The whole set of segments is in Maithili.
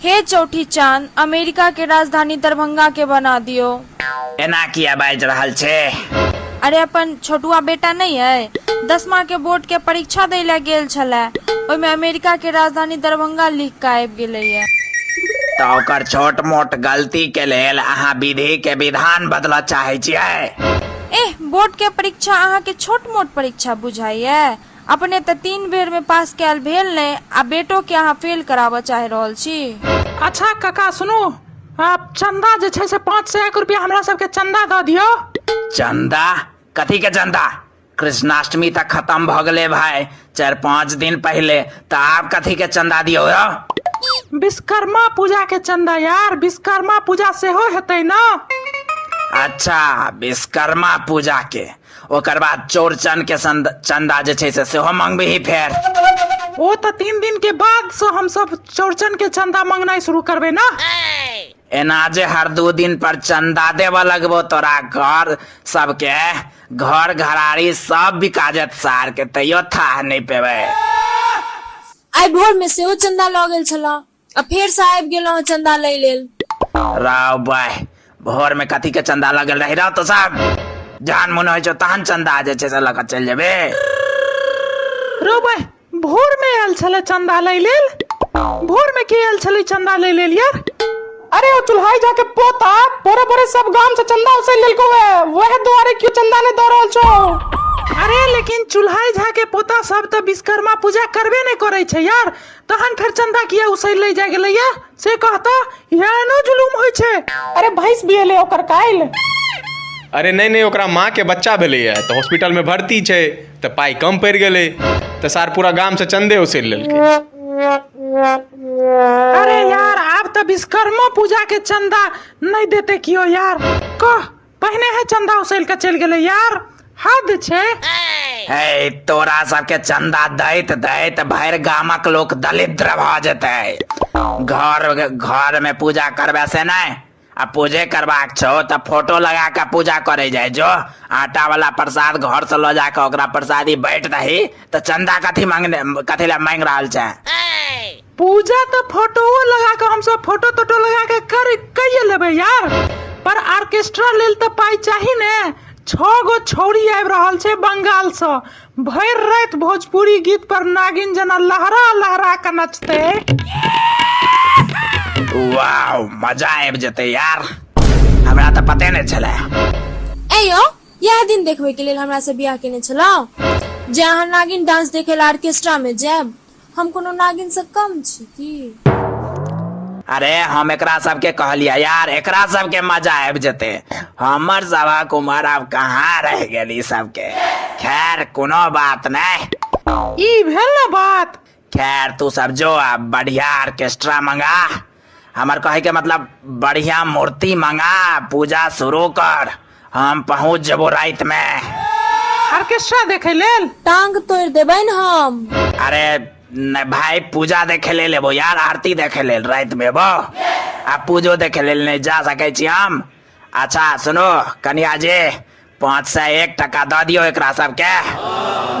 हे चौठी चान, अमेरिका के राजधानी दरभंगा के बना दियो। एना किया बाजि रहल छी? अरे अपन छोटुआ बेटा नहि अइ? दसमा के बोर्ड के परीक्षा दइ लए गेल छलए। ओहिमे अमेरिका के राजधानी दरभंगा लिख कऽ आबि गेलैए। तऽ ओकर छोट-मोट गलती के लेल अहाँ विधि के विधान बदलऽ चाहै छियै? एह, बोर्ड के परीक्षा अहाँ के छोट-मोट परीक्षा बुझाइए? अपने त तीन बेर मे पास कयल भेल नहि आ बेटो के अहाँ फेल कराबऽ चाहि रहल छी। अच्छा कका सुनु आब चन्दा जे छै से पाँच सए एक रुपया हमरा सबके चन्दा द दियौ। चन्दा? कथी के चन्दा? कृष्णाष्टमी त खतम भ गेलै भाय चारि पाँच दिन पहिले त आब कथी के चन्दा दियौ रौ। विश्वकर्मा पूजा के चन्दा यार विश्वकर्मा पूजा सेहो हेतै न। अच्छा विश्वकर्मा पूजा के। ओकर बाद चौड़चन के संद- चंदा जे छै से सेहो मंगबही फेर ओ तऽ तीन दिन के बाद से हम सब चौड़चन के चंदा मंगनाइ शुरू करबै ना एना जे हर दू दिन पर चंदा देबऽ लगबो तोरा घर सबके घर घराड़ी सब बिका जायत सार के तैयो थाह नहि पेबै आइ भोर में सेहो चंदा लऽ गेल छलहुँ आ फेर से आबि गेलहुँ चंदा लै लेल राव बाय भोर में कथी के चंदा लगल रही रह तो साहब जहन मन होइ छौ तहन चंदा आ जाइ छै से लऽ कऽ चलि जेबे रो भाई भोर में आयल छले चंदा लै लेल भोर में के आयल छले चंदा लै लेल यार अरे ओ चुल्हाई जाके पोता बोरे बोरे सब गांव से चंदा उसे लेलको है वह द्वारे क्यों चंदा ने दो रहल छो अरे लेकिन चुल्हाई झा के पोता सब तो विश्वकर्मा पूजा करबे नहीं करे छै यार तहन फेर चंदा किया उसैल ले जाय गेलैया से कहता इहे एनो जुलूम होइ छै अरे भैंस बियले ओकर काल्हि अरे नहि नहि ओकरा माँके बच्चा भेलैए तऽ हॉस्पिटलमे भर्ती छै तऽ पाइ कम पड़ि गेलै तऽ सार पूरा गामसँ चन्दे उसेल लेलकै अरे यार आब तऽ विश्वकर्मा पूजा के चंदा नहि देते कियो यार कह पहिने है चंदा उसल के चल गेले यार हद छै हे तोरा सबके चंदा दैत दैत भरि गामक लोक दलिद्र भऽ जेतै घर घर में पूजा करबे से नहि आ पूजे करबाक छौ तऽ फोटो लगा कऽ पूजा करे जाय जो आटा वाला प्रसाद घर से लऽ जाके ओकरा प्रसादी बैठ दही तऽ चंदा कथी मांगने कथी लए मांगि रहल छै पूजा तऽ फोटोओ लगा कऽ हमसब फोटो तोटो लगा कऽ कर कैये लेबै यार पर ऑर्केस्ट्रा लेल तऽ पाइ चाही ने छओ गो छौरी आबि रहल छै बंगालसँ भरि राति भोजपुरी गीत पर नागिन जेना लहरा लहरा कऽ नचतै वाओ मजा आबि जेतै यार हमरा तऽ पते नहि छलै ऐ यौ इएह दिन देखबै के लेल हमरा से बियाह केने छलहुँ जे अहाँ नागिन डांस देखे लए ऑर्केस्ट्रा में जायब हम कोनो नागिन से कम छी की अरे हम एकरा सबके कहलिए यार एकरा सबके मजा आब जेते हमर सबक उम्र आब कहाँ रह गेली सबके खैर कोनो बात नहीं ई भेल ना बात खैर तू सब जो अब बढ़िया ऑर्केस्ट्रा मंगा हमर कहे के मतलब बढ़िया मूर्ति मंगा पूजा शुरू कर हम पहुंच जबो रात में ऑर्केस्ट्रा देखे लेल टांग तोड़ देबै न हम अरे न भाई पूजा देखे ले लेबो यार आरती देखे ले रात में बो आ पूजो देखे ले नहीं जा सके छी हम अच्छा सुनो कनिया जी पाँच सए एक टका दऽ दियौ एकरा सबके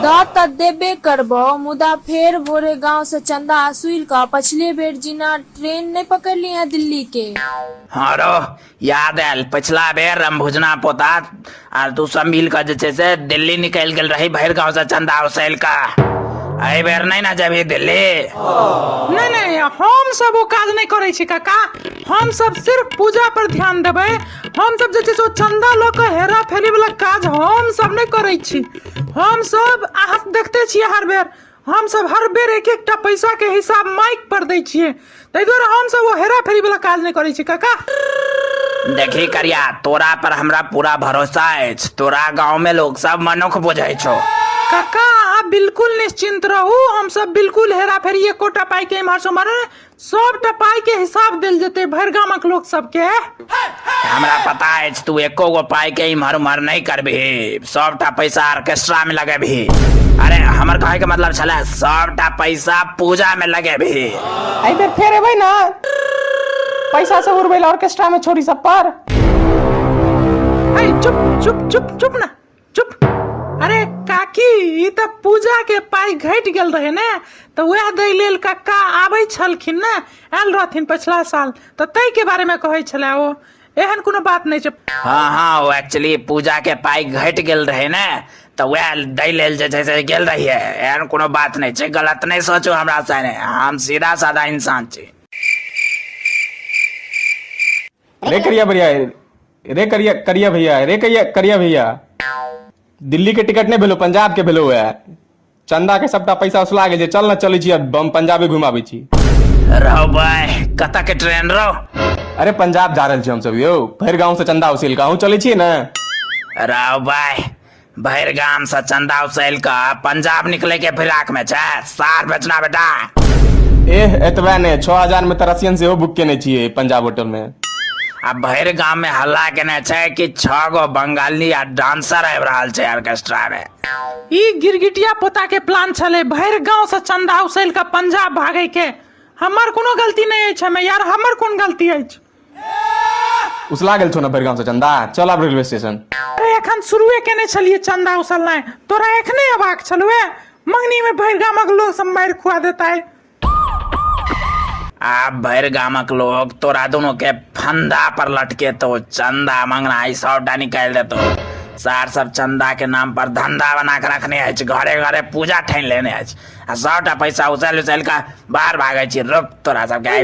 दऽ तँ देबे करबौ मुदा फेर भोरे गाँव सँ चन्दा असुलि कऽ पछिले बेर जिना ट्रेन नै पकड़लिहें दिल्ली के। हँ रौ याद आएल पछिला बेर रमभुजना पोता आर तू सब मिल कऽ जे छै से दिल्ली निकलि गेल रही भरि गाँव सँ चन्दा उसैल कऽ। एहि बेर नै ने जेबही दिल्ली। नै नै हम सब ओ काज नै करै छी कका। हम सब सिर्फ पूजा पर ध्यान देबै। हम सब जे छै से ओ चंदा लऽ के हेरा फेरी वाला काज हम सब नहि करै छी हम सब अहाँ देखते छियै हर बेर हम सब हर बेर एक एकटा पैसा के हिसाब माइक पर दै छियै ताहि दुआरे हम सब ओ हेरा फेरी वाला काज नहि करै छी काका देखी करिया तोरा पर हमरा पूरा भरोसा अछि तोरा गांव में लोग सब मनुख बुझै छौ काका अहाँ बिल्कुल निश्चिंत रहू हम सब बिल्कुल हेरा फेरी एकोटा पाई के इम्हर से उम्हर सबटा पाई के हिसाब देल जेते भर गामक लोक सब के हमरा पता अछि तू एको गो पाई के इम्हर उम्हर नहीं करबी सबटा पैसा ऑर्केस्ट्रा में लगेबी अरे हमर कहे के मतलब छले सबटा पैसा पूजा में लगेबी आई बेर फेर एबै ना पैसा से उड़बै ऑर्केस्ट्रा में छोरी सब पर आई चुप चुप चुप चुप ना चुप अरे काकी ई तऽ पूजा के पाई घटि गेल रहे ने तऽ वएह दै लेल कक्का आबै छलखिन ने आयल रहथिन पछिला साल तऽ ताहि के बारे में कहै छले ओ एहन कोनो बात नहि छै हाँ हाँ ओ एक्चुअली पूजा के पाई घटि गेल रहे ने तऽ वएह दै लेल जे छै से गेल रहियै एहन कोनो बात नहि छै गलत नहि सोचू हमरा साने हम सीधा साधा इंसान छी रे करिया भैया रे करिया करिया भैया रे करिया करिया भैया दिल्ली के टिकट नहीं भेलो पंजाब के भेलो है चंदा के सबटा पैसा उसला गेल छै चल ना चलै छी अब हम पंजाबे घुमाबै छी रहो भाय कतऽ के ट्रेन रहो अरे पंजाब जा रहल छी हम सब यौ भरि गांव से चंदा उसिल के अहूँ चलै छियै ने रहो भाय भरि गाम से चंदा उसल के पंजाब निकले के फिराक में छै सार बेचना बेटा एह एतबे ने छओ हजार में तऽ रसियन सेहो बुक केने छियै पंजाब होटल में आ भरि गाम में हल्ला केने छै कि छह गो बंगाली आ डांसर आबि रहल छै ऑर्केस्ट्रा में ई गिरगिटिया पोता के प्लान छलै भरि गांव से चंदा उसल के पंजाब भागे के हमर कोनो गलती नहि अछि हमे यार हमर कोन गलती अछि उसला गेल छौ ने भरि गाँवसँ चन्दा चल आब रेलवे स्टेशन अरे एखन शुरुए केने छलियै चंदा उसलनाइ तोरा एखने अबाक छलुए मंगनी में भरि गामक लोग सब मारि खुआ देता है आब भरि गामक लोग तोरा दोनों के फंदा पर लटकेतो चंदा मंगना ई सबटा निकालि देतो सार सब चंदा के नाम पर धंधा बना के रखने अछि घरे घरे पूजा ठानि लेने अछि आ सबटा पैसा उछालि उछालि कऽ बाहर भागै छी रोक तोरा सबके आइ